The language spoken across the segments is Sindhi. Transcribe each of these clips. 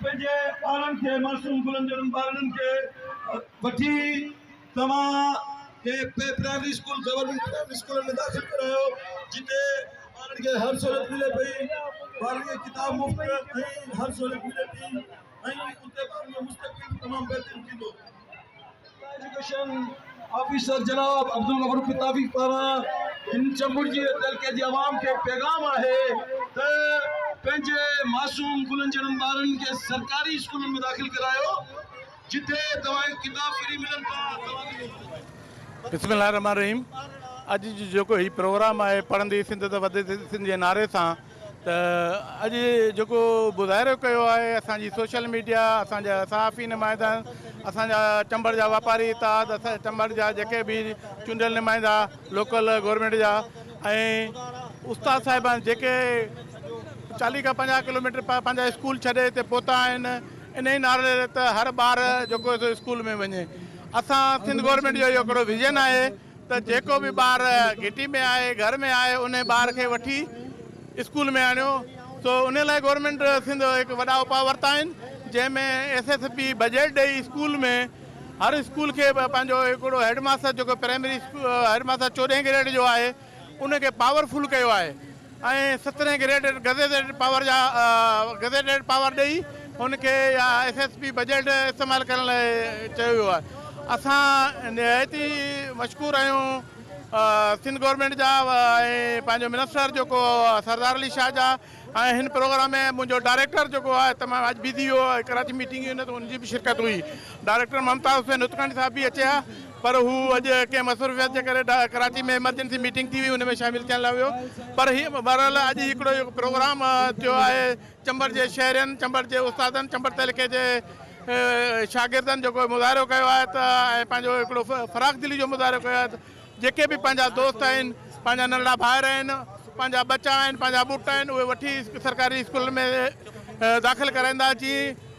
پنهنجي ٻارن کي معصوم گلن جهڙن ٻارڙن کي وٺي توهان کي پرائمري اسڪول گورنمينٽ پرائمري اسڪولن ۾ داخل ڪرايو جتي ٻارڙن کي هر سهولت ملي پئي ٻارڙن کي ڪتاب مفت ۽ هر سهولت ملي ٿي ۽ اتي ٻارڙن جو مستقبل به تمام بهترين ٿيندو ايجوڪيشن آفيسر جناب عبدالغفور فتافي پاران هن چمبڙجي تعلقي جي عوام کي پيغام آهي ته پنهنجي معصوم گلن جهڙن ٻارن کي سرڪاري اسڪولن ۾ داخل ڪرايو جتي توهان ڪتاب فري ملن ٿا. بسم الله الرحمٰن الرحيم اڄ جو جيڪو هي پروگرام آهي پڙهندي سنڌ ته وڌندي سنڌ جي نعري سان ته اڄ جيڪو مظاهرو ڪيو آهي اسان جي سوشل ميڊيا اسان جا صحافي نمائندن اسان جا چمبڙ جا واپاري اتحاد اسان چمبڙ جا جيڪي به چونڊيل نمائندا لوڪل گورنمينٽ جا ۽ استاد صاحبان جيڪي چاليهه کان پنجاهه ڪلوميٽر پنهنجا اسڪول ڇڏي هتي پهتا آهن انهي نعري ته هر ٻار جيڪو اسڪول ۾ وڃي اسان سنڌ گورنمينٽ جو اهو هڪڙو ويزن آهي ته جيڪو به ٻار گهٽي ۾ آهي گهر ۾ آهي انهي ٻار کي وٺي اسڪول ۾ آڻيو سو انهي لاء گورنمينٽ سنڌ هڪ وڏا اپاء ورتا آهن جنهن ۾ ايس ايس پي بجيٽ ڏئي اسڪول ۾ هر اسڪول کي پنهنجو هڪڙو هيڊ ماستر جيڪو پرائمري هيڊ ماستر چوڏهين گريڊ جو آهي ان کي پاور فل ڪيو آهي ۽ سترهين گريڊ گزيٽيڊ پاور جا گزيٽيڊ پاور ڏئي ان کي يا ايس ايس پي بجيٽ استعمال ڪرڻ لاء چيو ويو آهي اسان نهايت ئي مشڪور آهيون سنڌ گورنمينٽ جا ۽ پنهنجو منسٽر جيڪو سردار علي شاهه جا ۽ هن پروگرام ۾ منهنجو ڊائريڪٽر جيڪو آهي تمام اڄ بزي هو ڪراچي ميٽنگ هئي نه ته ان جي به شرڪت هئي ڊائريڪٽر ممتاز حسين هتڪنڊ صاحب به اچي ها پر هو اڄ ڪنهن مصروفيت جي ڪري ڪراچي ۾ ايمرجنسي ميٽنگ ٿي هئي ان ۾ شامل ٿيڻ لاء ويو پر هي بهرحال اڄ هڪڙو اهو پروگرام ٿيو آهي چمبڙ جي شهرين چمبڙ جي استادن چمبڙ تعلقي جي شاگردن جيڪو مظاهرو ڪيو آهي ته ۽ پنهنجو هڪڙو فراخ دلي جو مظاهرو ڪيو آهي جيڪي به پنهنجا دوست آهن پنهنجا ننڍڙا ڀائر آهن پنهنجا ٻچا آهن پنهنجا ٻٽ آهن اهي وٺي سرڪاري اسڪولن ۾ داخل ڪرائيندا جي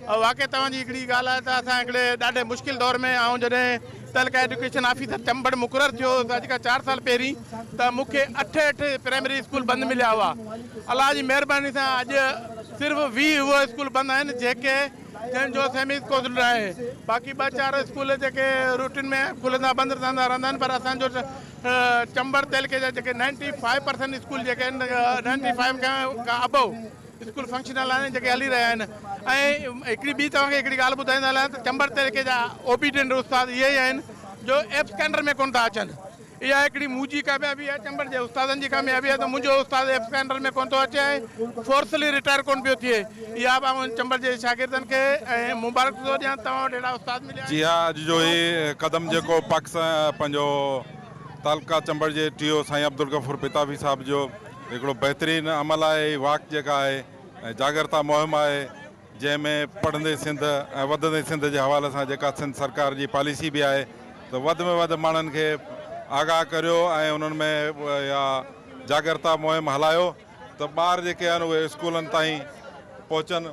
واقعي توهان جي هڪڙي ڳالهه آهي ته اسان هڪڙي ڏاڍي مشڪل دور ۾ آئون جڏهن تعلقه ايڊيوڪيشن آفيسر چمبڙ مقرر ٿيو هوس اڄ کان چار سال پهرين ته مون کي اٺ اٺ پرائمري اسڪول بند مليا هئا الله جي مهرباني سان اڄ صرف ويهه اهي اسڪول بند آهن جيڪي جن جو سيمي اسڪول ناهي باقي ٻه چار اسڪول جيڪي روٽين ۾ کلندا بند ٿيندا رهندا آهن پر اسان جو چمبڙ تعلقي جا جيڪي نائنٽي فائيو پرسنٽ اسڪول جيڪي آهن نائنٽي فائيو کان ابو اسڪول فنڪشن هلائڻ جيڪي هلي رهيا آهن ۽ هڪڙي ٻي توهان کي هڪڙي ڳالهه ٻڌائيندو هلان ته چمبڙ طريقي جا اوبيڊينٽ استاد اهي ئي آهن جو ايبسڪينڊر ۾ ڪونه ٿا اچن اها هڪڙي منهنجي ڪاميابي آهي چمبڙ جي استادن جي ڪاميابي آهي ته منهنجو استاد ايبسڪينڊر ۾ ڪونه ٿو اچي ۽ فورسلي رٽائر ڪونه پيو ٿئي اها به آئون چمبڙ جي شاگردن کي مبارڪ ٿو ڏيان توهان وٽ اهڙا استاد مليا آهن. جي ها اڄ جو هي قدم جيڪو پاڪستان پنهنجو تعلقه چمبڙ جي ٽي او سائين عبدالغفور پتافي صاحب جو. هڪڙو بهترين عمل آهي هي واڪ جيڪا آهي ۽ جاڳرتا مهم آهي جنهن ۾ پڙهندي سنڌ ۽ وڌندي سنڌ جي حوالي سان جيڪا سنڌ سرڪار جي پاليسي به آهي ته وڌ ۾ وڌ ماڻهن کي آگاهه ڪريو ۽ انهن ۾ اها جاڳرتا مهم هلايو ته ٻار جيڪي آهن اهي اسڪولن تائين پهچن.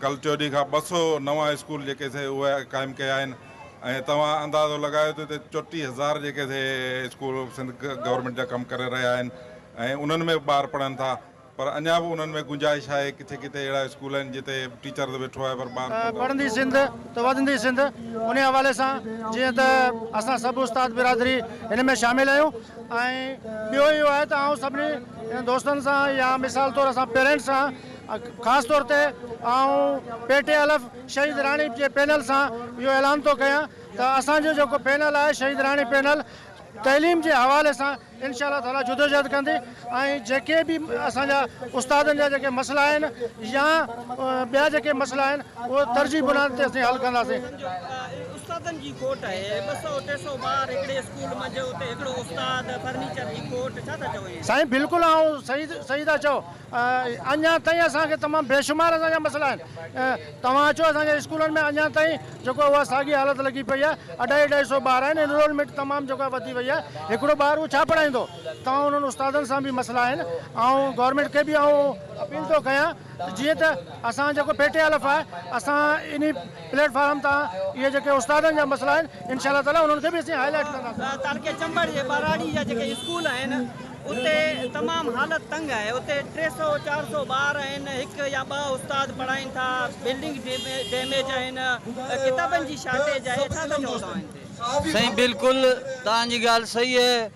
ڪل چوڏهين کان ٻه سؤ نوان اسڪول جيڪي سي اهي قائم ڪيا آهن ۽ توهان اندازو لڳايو ته هتي چوٽيهه هزار جيڪي سي اسڪول سنڌ گورنمينٽ جا ڪم ڪري رهيا آهن ۽ انهن ۾ به ٻار پڙهن ٿا پر اڃا به انهن ۾ گنجائش آهي ڪٿي ڪٿي اهڙا اسڪول آهن جتي ٽيچر ته ويٺو آهي پر ٻار ڪونه پڙهندي سنڌ ته وڌندي سنڌ انهي حوالي سان جيئن ته اسان سڀ استاد برادري هن ۾ شامل آهيون ۽ ٻيو اهو آهي ته آئون سڀني دوستن سان يا مثال طور اسان پيرنٽس سان خاص طور تي آئون پي ٽي الف شهيد راڻي جي پينل سان اهو اعلان ٿو ڪيان ته اسان جو جيڪو پينل آهي شهيد راڻي پينل تعليم جي حوالي سان انشاء الله تعالي جدوجهد ڪندي ۽ جيڪي به اسان جا استادن جا جيڪي مسئلا آهن يا ٻيا جيڪي مسئلا آهن اهي ترجيح بنياد تي اسين حل ڪنداسين استادن جي کوٽ آهي ٻه سؤ ٽي سؤ ٻار هڪڙي اسڪول منجهه اتي هڪڙو استاد فرنيچر جي کوٽ ڇا ٿا چئو ائين سائين بلڪل آئون صحيح صحيح ٿا چئو اڃان تائين اسان کي تمام بيشمار اسان جا مسئلا آهن توهان اچو اسان جي اسڪولن ۾ اڃان تائين جيڪو آهي اها ساڳي حالت لڳي پئي آهي اڍائي اڍائي سو ٻار آهن انرولمينٽ تمام جيڪو آهي وڌي وئي آهي هڪڙو ٻار اهو ڇا پڙهائيندو توهان انهن استادن سان به مسئلا آهن آئون گورنمينٽ کي به آئون اپيل ٿو ڪيان جيئن ته اسان جيڪو پي ٽي الف آهي اسان انهي پليٽ فارم تان اهي جيڪي استادن جا مسئلا آهن انشاء الله تعالي انهن کي به اسين هاء لائيٽ ڪنداسين تعلقي چمبڙ جي ٻهراڙي جا جيڪي اسڪول آهن اتي تمام حالت تنگ آهي، اتي ٽي سؤ چار سؤ ٻار آهن، هڪ يا ٻه استاد پڙهائين ٿا، بلڊنگ ڊيميج آهن، ڪتابن جي شارٽيج آهي، ڇا ٿا چئو توهان هن تي؟ سائين بلڪل توهان جي ڳالهه صحيح آهي،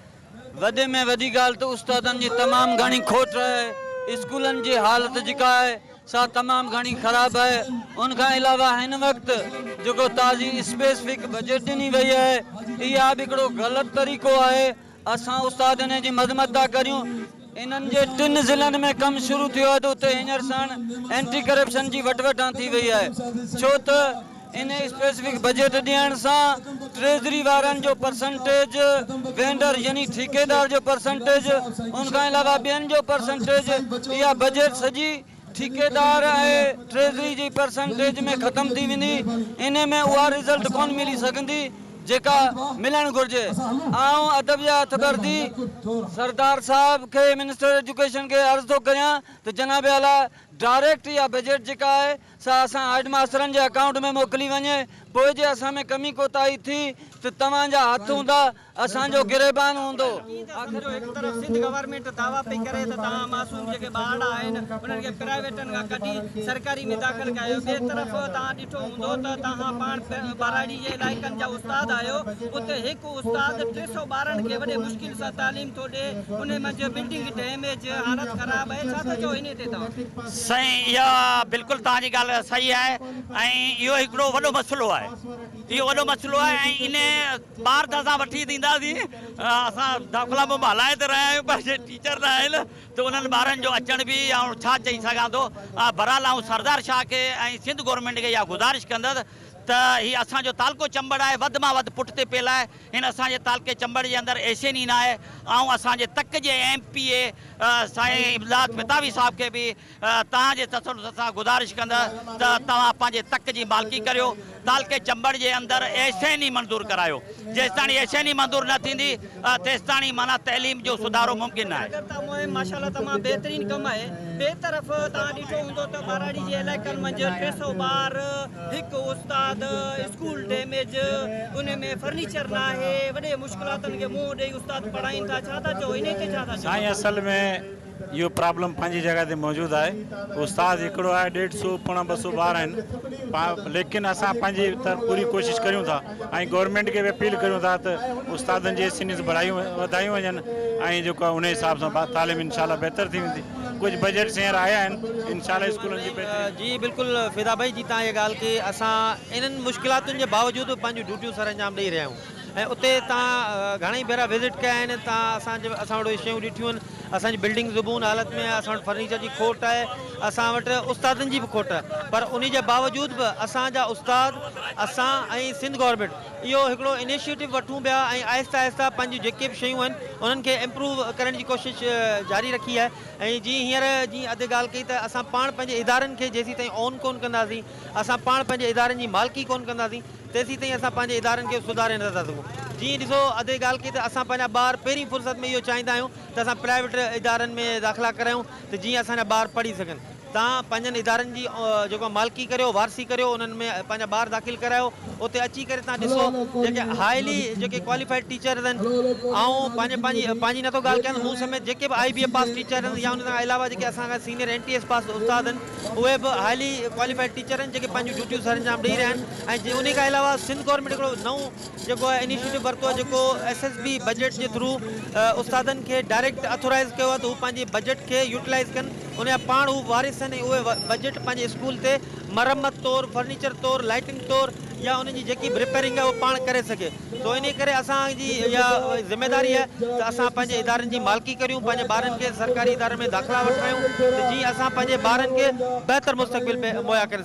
وڏي ۾ وڏي ڳالهه ته استادن جي تمام گهڻي کوٽ آهي، اسڪولن جي حالت جيڪا آهي سا تمام گهڻي خراب آهي، ان کان علاوه هن وقت جيڪو تازي اسپيسفڪ بجيٽ ڏني وئي آهي اها به هڪڙو غلط طريقو آهي، اسان استادن جي مذمت ٿا ڪريون انهن جي ٽن ضلعن ۾ ڪم شروع ٿيو آهي ته اتي هينئر ساڻ اينٽي ڪرپشن جي وٽوٽان ٿي وئي آهي ڇو ته انهي اسپيسفڪ بجيٽ ڏيڻ سان ٽريزري وارن جو پرسنٽيج وينڊر يعني ٺيڪيدار جو پرسنٽيج ان کان علاوه ٻين جو پرسنٽيج اها بجيٽ سڄي ٺيڪيدار ۽ ٽريزري جي پرسنٽيج ۾ ختم ٿي ويندي انهي ۾ اها رزلٽ ڪونه ملي سگهندي جيڪا ملڻ گهرجي آئون ادب جي هٿ ڀرندي سردار صاحب کي منسٽر ايجوڪيشن کي عرض ٿو ڪريان ته جناب اعليٰ ڊائريڪٽ اها بجيٽ جيڪا آهي سا اسان هيڊ ماسترن جي اڪائونٽ ۾ موڪلي وڃي پوء جي اسان ۾ ڪمي ڪوتاهي ٿي ته توهان جا هٿ هوندا اسان جو گريبان هوندو. آخر جو هڪ طرف سنڌ گورنمينٽ دعويٰ پئي ڪري ته توهان معصوم جيڪي ٻارڙا آهن انهن کي پرائيويٽن کان ڪڍي سرڪاري ۾ داخل ڪيو ٻئي طرف توهان ڏٺو هوندو ته توهان پاڻ ٻهراڙي جي علائقن جا استاد آهيو اتي هڪ استاد ٽي سئو ٻارڙن کي وڏي مشڪل سان تعليم ٿو ڏي انهي منجهه بلڊنگ ڊيميج حالت خراب اهي ڇا ٿا چئو انهي تي توهان. سائين اها بلڪل توهان جي ڳالهه صحيح آهي ۽ اهو هڪڙو وڏو مسئلو آهي اهو وڏو مسئلو آهي ۽ انهي ٻار ته اسان وٺي ڏينداسين، اسان داخلا مون ڀلائي تي رهيا آهيون پر جي ٽيچر نه آهن ته انهن ٻارن جو اچڻ به آئون ڇا چئي سگهان ٿو. بهرحال آئون سردار شاهه کي ۽ سنڌ گورنمينٽ کي اها گذارش ڪندس ته هي اسان جو تعلقو چمبڙ آهي وڌ مان وڌ پٽ تي پيل آهي هن اسان جي تعلقي چمبڙ جي اندر ايسين ئي ناهي آئون اسان جي تڪ جي ايم پي اي سائين امداد متاوي صاحب کي به توهان جي تسلسل سان گذارش ڪندس ته توهان پنهنجي تڪ جي مالڪي ڪريو. تعلقي چمبڙ جي اندر ايشين ئي منظور ڪرايو. جيستاڻي ايشين ئي منظور نه ٿيندي تيستاڻي معنيٰ تعليم جو سڌارو ممڪن نه آهي. جاڳرتا مهم ماشاء الله تمام بهترين ڪم آهي. ٻئي طرف توهان ڏٺو هوندو ته ٻهراڙي جي علائقن منجهه ٽي سؤ ٻار، هڪ استاد، اسڪول ڊيميج، ان ۾ فرنيچر ناهي، وڏي مشڪلاتن کي منهن ڏئي استاد پڙهائين ٿا، ڇا ٿا چئو انهي تي ڇا ٿا چئو؟ سائين اصل ۾ اهو پرابلم پنهنجي جڳهه تي موجود آهي استاد هڪڙو آهي ڏيڍ سو پوڻا ٻه سو ٻار آهن ليڪن اسان پنهنجي طرف پوري ڪوشش ڪريون ٿا ۽ گورنمينٽ کي به اپيل ڪريون ٿا ته استادن جي سنيس بڙايون وڌايون وڃن ۽ جيڪو آهي ان حساب سان تعليم انشاء الله بهتر ٿي ويندي ڪجهه بجيٽس هينئر آيا آهن انشاء الله اسڪولن جي بهتري جي بلڪل فدا ڀائي جي تان اها ڳالهه ڪي اسان انهن مشڪلاتن جي باوجود پنهنجون ڊيوٽيون سر انجام ڏئي رهيا آهيون. ۽ اتي تان گهڻائي ڀيرا وزٽ ڪيا آهن تان اسان جي اسان وٽ اهي شيون ڏٺيون آهن اسان جي بلڊنگ زبون حالت ۾ آهي اسان وٽ فرنيچر جي کوٽ آهي اسان وٽ استادن جي به کوٽ پر انهي جي باوجود به اسان جا استاد اسان ۽ سنڌ گورنمينٽ اهو هڪڙو انيشيٽو وٺون پيا ۽ آهستي آهستي پنهنجون جيڪي به شيون آهن انهن کي امپروو ڪرڻ جي ڪوشش جاري رکي آهي ۽ جي هينئر جي ادي ڳالهه ڪئي ته اسان پاڻ پنهنجي ادارن کي جيسيتائين اون ڪون ڪنداسين اسان پاڻ پنهنجي ادارن جي مالڪي ڪون ڪنداسين تيسيتائين اسان پنهنجي ادارن کي سڌاري نٿا سگهون. جي ائين ڏسو ادي ڳالهه ڪئي ته اسان پنهنجا ٻار پهرين فرصت ۾ اهو چاهيندا آهيون ته اسان پرائيويٽ ادارن ۾ داخلا ڪرايون ته جيئن اسان جا ٻار پڙهي سگهن. تان پنهنجن ادارن جي جيڪو مالڪي ڪريو، وارثي ڪريو انهن ۾ پنهنجا ٻار داخل ڪرايو. اتي اچي ڪري تان ڏسو جيڪي هائلي جيڪي ڪواليفائيڊ ٽيچرز آهن آئون پنهنجي پنهنجي پنهنجي نٿو ڳالهه ڪيان مون سميت جيڪي به آئي بي اي پاس ٽيچر آهن يا ان کان علاوه جيڪي اسان کان senior N T S pass استاد آهن اهي به هائلي ڪواليفائيڊ ٽيچر آهن جيڪي پنهنجون ڊيوٽيون سر انجام ڏئي رهيا آهن ۽ انهي کان علاوه سنڌ گورنمينٽ هڪڙو نئون جيڪو آهي انيشيٽو ورتو آهي جيڪو ايس ايس بي بجيٽ جي ٿرو استادن کي ڊائريڪٽ اٿورائز ڪيو آهي ته هو پنهنجي بجيٽ کي يوٽيلائز ڪن ان جا پاڻ هو وارث آهن ۽ اهي بجيٽ پنهنجي اسڪول تي مرمت طور فرنيچر طور لائيٽنگ طور يا ان جي جيڪي به ريپيرنگ آهي اهو پاڻ ڪري سگهي سو انهيء ڪري اسان جي اها ذميواري آهي ته اسان پنهنجي ادارن جي مالڪي ڪريون، پنهنجي ٻارن کي سرڪاري ادارن ۾ داخلا وٺرايون ته جيئن اسان پنهنجي ٻارن کي بهتر مستقبل مهيا ڪري سگهون.